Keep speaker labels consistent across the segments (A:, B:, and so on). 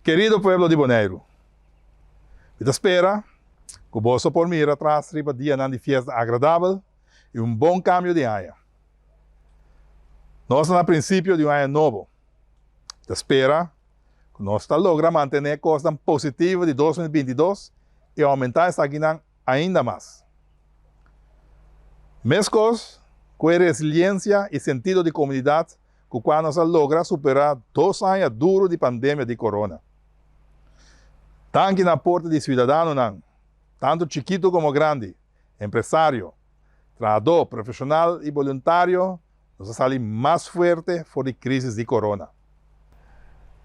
A: Kerido pueblo di Boneiru, mi ta spera ku boso por mira tras riba dianan di fiesta agradabel i un bon kambio di aña. Nos ta na prinsipio di un aña nobo. Mi ta spera ku nos ta logra mantené kosnan positivo di dos mil binti i dos i oumentá esakinan ainda mas. Meskos ku e resiliensia i sentido di komunidat ku kua nos a logra superá dos aña duru di pandemia di corona. Tanki na porta di siudadanonan, tantu chikitu komo grandi, empresario, trahadó, profeshonal i boluntario, nos a sali mas fuerte for di krísis di corona.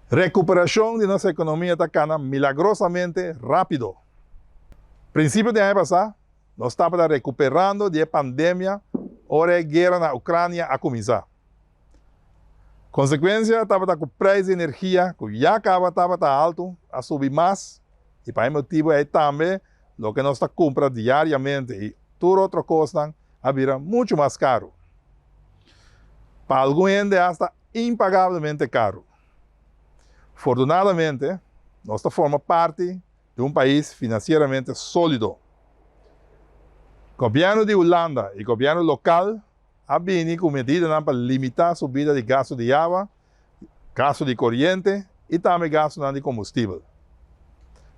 A: Rekuperashon di nos ekonomia ta kana milagrosamente rápido. Prinsipio di aña pasá, Nos tabata rekuperando di e pandemia ora e guera na Ucrania a kuminsá. Konsekuensia tabata ku preis di energia ku ya kaba tabata altu a subi mas i pa e motibu ei tambe loke nos ta kumpra diariamente i tur otro kosnan a bira muchu mas karu. Pa algun hende asta impagablemente karu. Fortunadamente nos ta forma parti di un pais finansieramente solido. Gobièrnu di Hulanda i gobièrnu lokal a bini ku medidanan pa limitá subida di gastu di yawa, gastu di koriente i tambe gastunan di kombustibel.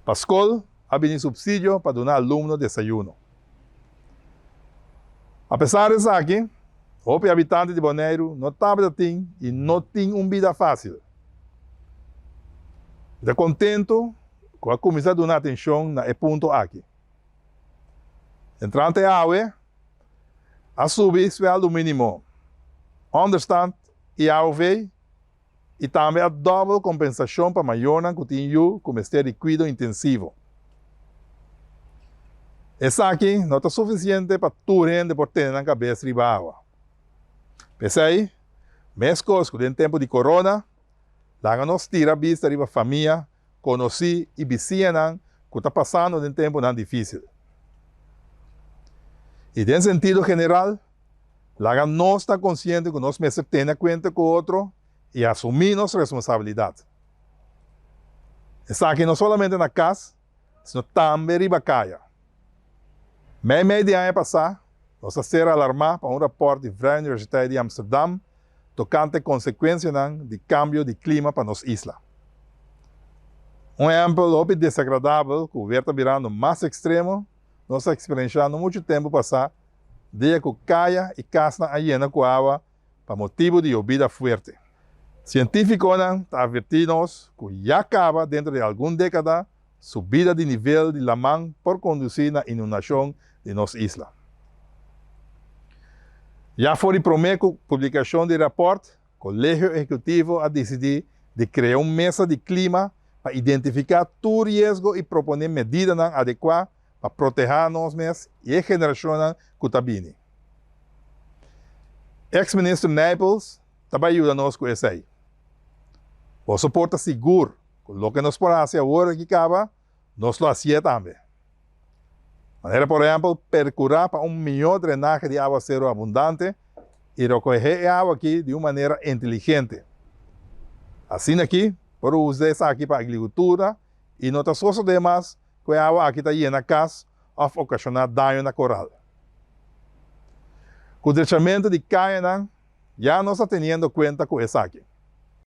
A: Pa skol a bini supsidio pa duna alumno desayuno. Apesar di esaki, hopi habitanti di Boneiru no tabata tin i no tin un bida fásil. Mi ta kontentu ku a kuminsá duna atenshon na e punto aki. Entrante awe a subi suèldo mínimo, ònderstand i AOV i tambe a dòbel kompensashon pa mayornan ku tin yu ku mester di kuido intensivo. Esaki no ta sufisiente pa tur hende por tene nan kabes riba awa. P'esei, meskos ku den tempu di corona, laga nos tira bista riba famia konosí i bisiñanan ku ta pasando den tempunan difísil. I den sentido general, laga nos ta konsiente ku nos mester tene kuenta ku otro i asumí nos responsabilidat. Esaki no solamente na kas, sino tambe riba kaya. Mei mei di aña pasá, nos a ser alarmá pa un rapòrt di Vrije Universiteit di Amsterdam, Tokante konsekuensianan di kambio di klima pa nos isla. Un ehèmpel hopi desagradabel ku wer ta birando mas ekstremo nos a eksperenshá no muchu tempu pasá dia ku kaya i kasnan a yena ku awa pa motibu di yobida fuerte. Sientífikonan ta avertí nos ku ya kaba dentro di algun dékada Subida di nivel di laman por kondusí na inundashon di nos isla. Ya for di promé ku publikashon di rapòrt, Kolegio Ehekutivo a disidí di krea un mesa di klima pa identifiká tur riesgo i proponé medidanan adekuá pa protehá nos mes i e generashonnan ku ta bini. Eks Minister Nijpels ta bai yuda nos ku esei. Boso por ta sigur! Cu loke nos por haci awor aki caba, nos lo hacié tambe. Manera por ehempel, percura pa un mihor drenahe di awaceru abundante y rocohe e awa aki di un manera inteligente. Asina aki, por usa esaki pa agricultura y no ta sosode mas cu e awa aki ta yena cas of ocasiona daño na coral. Cu drechamentu di cayanan, ya nos ta teniendo cuenta cu esaki.